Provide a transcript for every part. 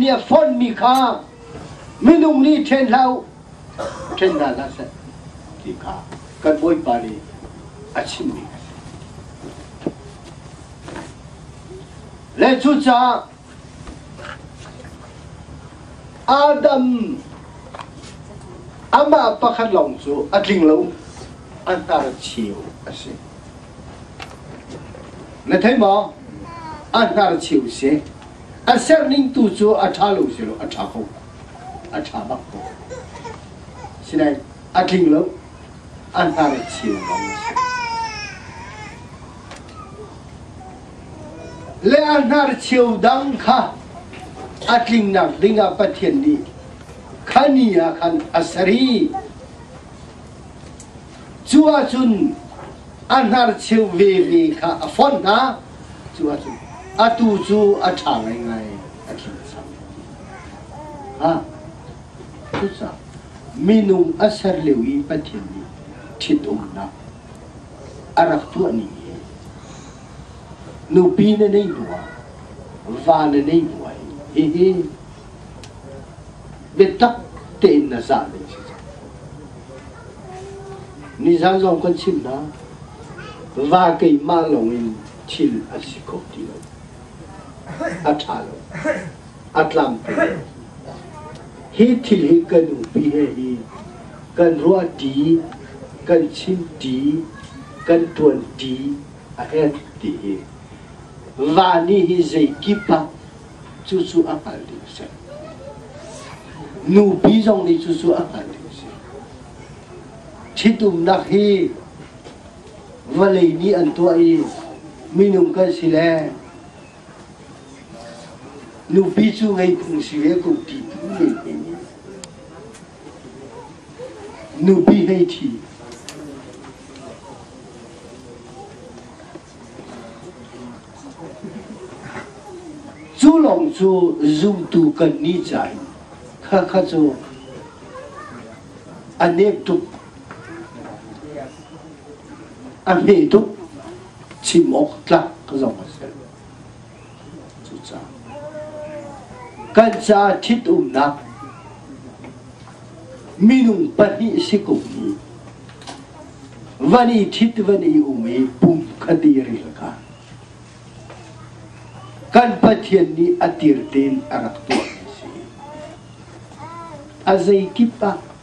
nih a fonhmi kha minung nih ṭhen hlah u ṭhen hna hlah seh ti kha kan Bawipa nih a chimmi a si. Le cucaah Adam amah pakhat lawng cu a tling lo an tar cheu a si. Na thei maw? A tar cheu si. A serning tu cu a ṭha lo si lo a ṭha ko. A ṭha bak ko. Sinain a tling lo an tar cheu lawng a si. Le a hnarcheu dang kha a tlingnak dingah Pathian nih khani ah khan a ser i cu ahcun a hnarcheu veve kha a fonh hna cu ahcun atu cu a ṭha ngaingai a tling cang. Ha, cucaah minung a ser lio i Pathian nih ṭhitumnak a rak tuahmi hi nupi na neih hnu ah va na neih hnu ah hihi biatak tein na zah ding si cang nizaan zong kan chim hna va keimah lawng in thil an si kho ti lo a ṭha lo a tlam pe. Hi thil hi kan upi he hi kan ruahṭi, kan chimṭi, kan ṭuanṭi a en ti hi. Va nih hi zeikip ah cucu a hngal ding a si. Nupi zong nih cucu a hngal ding a si. Ṭhitumnak hi vawlei nih an tuah i minung kan si le Nupi cu ngei phung si ve ko ti tu ning in nupi hlei thi. Cu lawng cu zumtu kan ni cai kha kha cu a nep tuk a hme tuk Chim awk tlak zong a si lo. Cucaah kan caah ṭhitumnak minung pahnih si ko mu van i ṭhit van i um i pum kha dir i ka kan Pathian nih a tir tein a rak tuah mi si a zeikip ah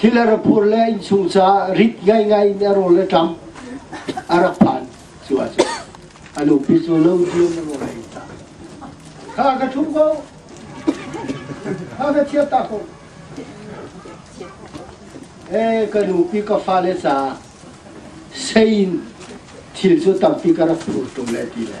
Hi le rak phur le innsung caah rit ngaingai in a rawl le ṭam a rak phan cu ah cun a nupi cu lo cu na rawl ei ta. Kha ka ṭhum ko, kha ka thiat ta ko. E ka nupi ka fale caah sein thil cu tampi ka rak phur ṭung le ti le.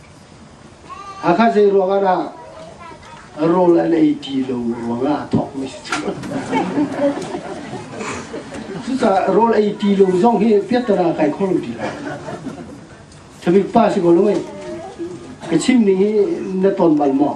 Hakha zeiruangah dah rawl an ei ti lo ruangah thawkmi si cu. Cucaah rawl ei ti lo zong hi piattana kai kho lo ti lo. Thabik pa si ko lo mei. Ka chim ning hi na ton bal maw?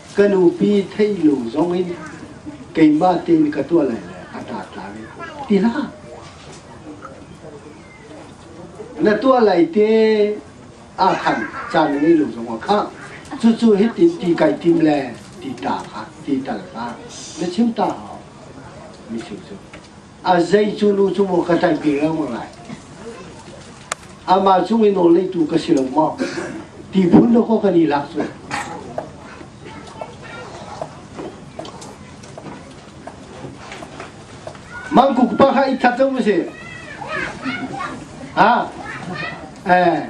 Ka nupi theihlu zongin keimah tein ka tuah lai le a tar tlai ti hlah. Na tuah lai te ah khan caan na ngei lo zong ah kha cucu hitin ti kai tim le ti ta kha ti tal kha na chim ta hau mi su cu a zei cu nu cu maw ka ṭanpi lengmang lai amah cung i nawl ngeitu ka si lo maw ti phun dawh kaw kan i lak cu mangkuk pa kha i khat zo u si ha eh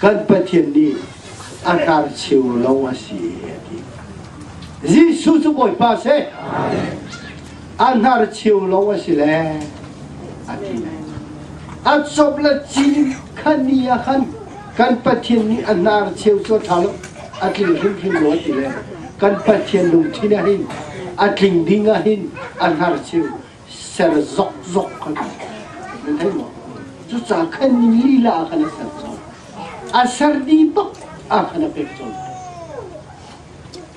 kan Pathian nih a tar cheu lo a si a ti. Jesuh cu Bawipa si a hnar cheu lo a si le a ti le a chop la ci khan ni ah khan kan Pathian nih a hnar cheu cu a ṭha lo a tling hrimhrim lo a ti le kan Pathian lungthin ah hin a tling ding ah hin a hnar cheu ser zokzok kan na thei maw cuca khan lila khan a ser chon a ser di bak a khan a pek chon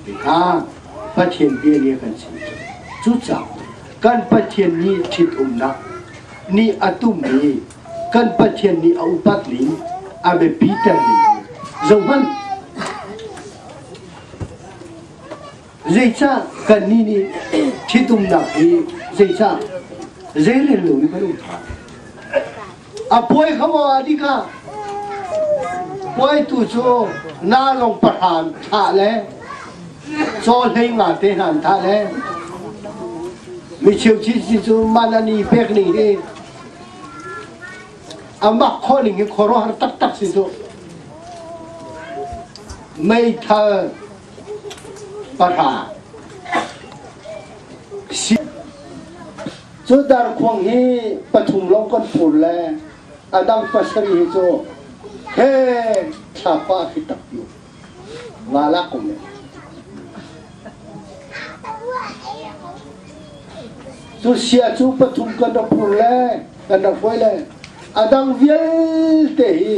tika pathian bia nia kan si cuca kan pathian nih thit umnak nih a tummi kan pathian nih a upat ning a biapiter ning zohman Zeicah kannih nih ṭhitumnak hi zeicah zeirel loin kan um? A puai kho ah dik ah puaitu cu nalong pahra thah le caw hlei nga te hna an thah le micheu thi cu man an i pek ning hi a mak kho ning hi khuaruahhar taktak si cu meithal Pahra Cu darkhuang hi pathum lawng kan fur le a dang pasarih hi cu he thlapa khi tak yu nga lak ko le cu sia cu pathum kan rak fur le kan rak hruai le a dang vialte hi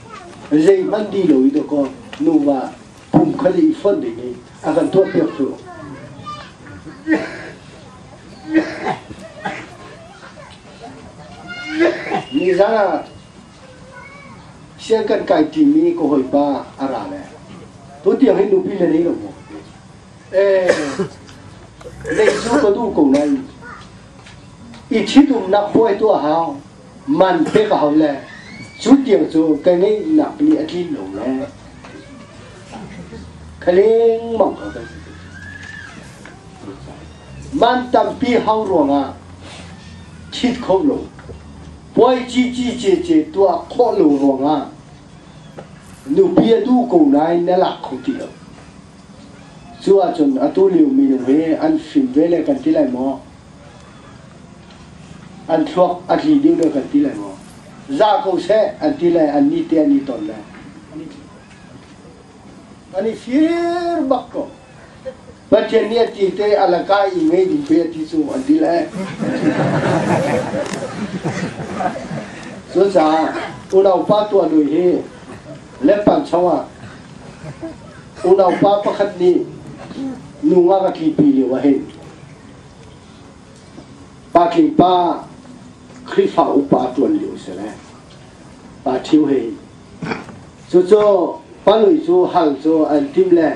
Zeihmanh di lo i dawkaw nuva pum khat i fonh ding i a kan tuahpiak cu. Nizan ah sian kan kai ṭimi ka hawipa a ra le tutiang hi nupi le nei lo mu eh lei cu ka duh ko nain i ṭhitumnak puai tuah hau man pek a hau le cu tiang cu ka ngeihnak pali a tlin lo le ka lengmang ko kan si. Man tampi hau ruangah thit kho lo. Puai ci ci ce ce tuah khawh lo ruangah nupi a duh ko nain na lak kho ti lo. Cu ahcun atu liomi nu hi an fim ve le kan ti lai maw? An thluak a tli ding deuh kan ti lai maw? Za ko seh an ti lai an ni te an ni ton lai. An i fir bak ko. Pathian nih a ti te alaka i ngei ding pe a ti cu an ti lai. Cucaah unaupa tuanui hi leppan chungah unaupa pakhat nih nu nga ka tlipi lio ah hin Patling pa Khrihfa upa ṭuan lio a si le pa ṭhio he cucu panui cu hal cu an tim le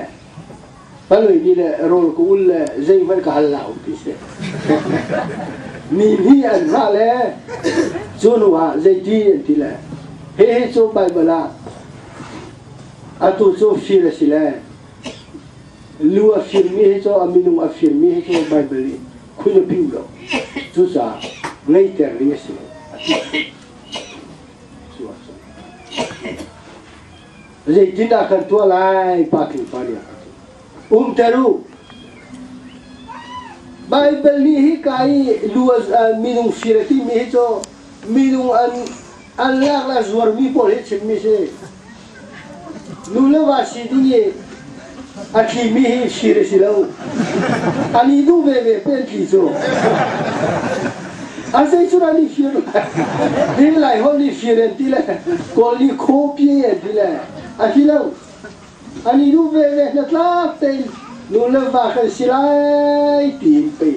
panui nih le rawl ka ul le zeihmanh ka hal la u ti si mi nih an ra le cu nu ah zeiti an ti le hihi cu Baibal ah atu cu fir a si le Lu a firmi hi cu a minung a firmi hi cu Baibal i khun a piu lo. Cucaah greater ding a si lo a ti. Zeitindah kan tuah lai? Pa Tling Pa nih a kan ṭih. Umter u! Baibal nih hika i lu a minung fir a timi hi cu minung an an leak le zuarmi pawl hi chimmi si. Nu le va si ding i a thlimi hi sir a si lo. An i duh veve pe an tli cu. A zei cun an i sir lai. Ding lai hon i sir an ti le kawl ni khaw pie an ti le a ti lo. An i duh veve hnatlak tein nu le va kan si lai tiin pei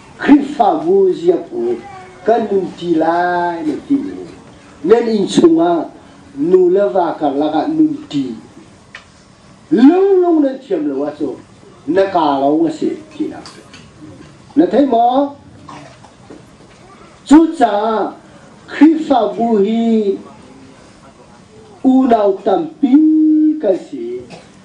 Khrihfabu ziapu kan um ti lai na timi nan inn chungah nu le va karlak ah nun ṭi lunglung nan thiam lo ah cu na ka lo a si tinak cu na thei maw? Cucaah Khrihfabu hi unau tampi kan si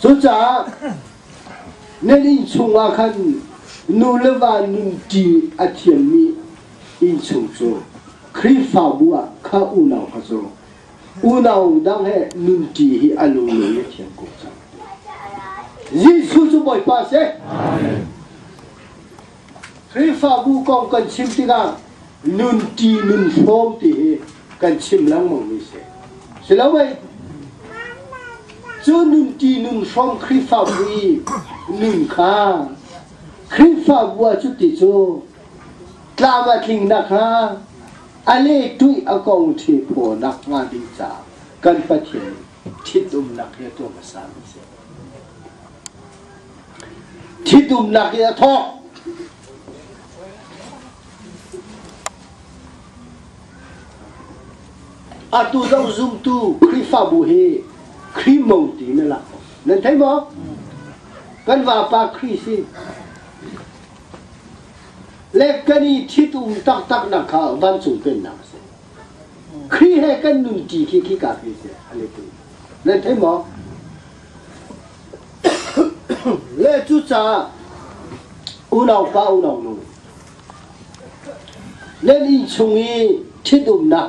Cucaah na inn chungah khan nu le va nunṭi a thiammi innchung cu Khrihfabu ah kha unau kha cu unau dang he nunṭi hi a lunglen i a thiam ko cang. Jesuh cu Bawipa a si. Khrihfabu kong kan chim tikah nunṭi nun hrawm ti hi kan chim lengmangmi si. Siloin cu nunṭi nun hrawm Khrihfabu i nun kha Khrihfabu ah cuti cu tlam a tling nakhnga a lehtuih a kong ṭhi phaw nakhnga ding caah kan Pathian nih Ṭhitumnak hi a tuah hmasami a si. Ṭhitumnak hi a thawk. Atu dang zumtu Khrihfabu hi Khrimo ti na lak. Nan thei maw? Kan vapa Khrih si. Le kan i ṭhitum taktaknak kha vancung pennak a si. Khrih he kan nun ṭi khi khi kapi si a letu nan thei maw? Le cu caah unaupa unaunu nan inn chung i ṭhitumnak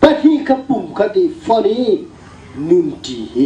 pahnih kha pum khat i fonh i nun ṭi hi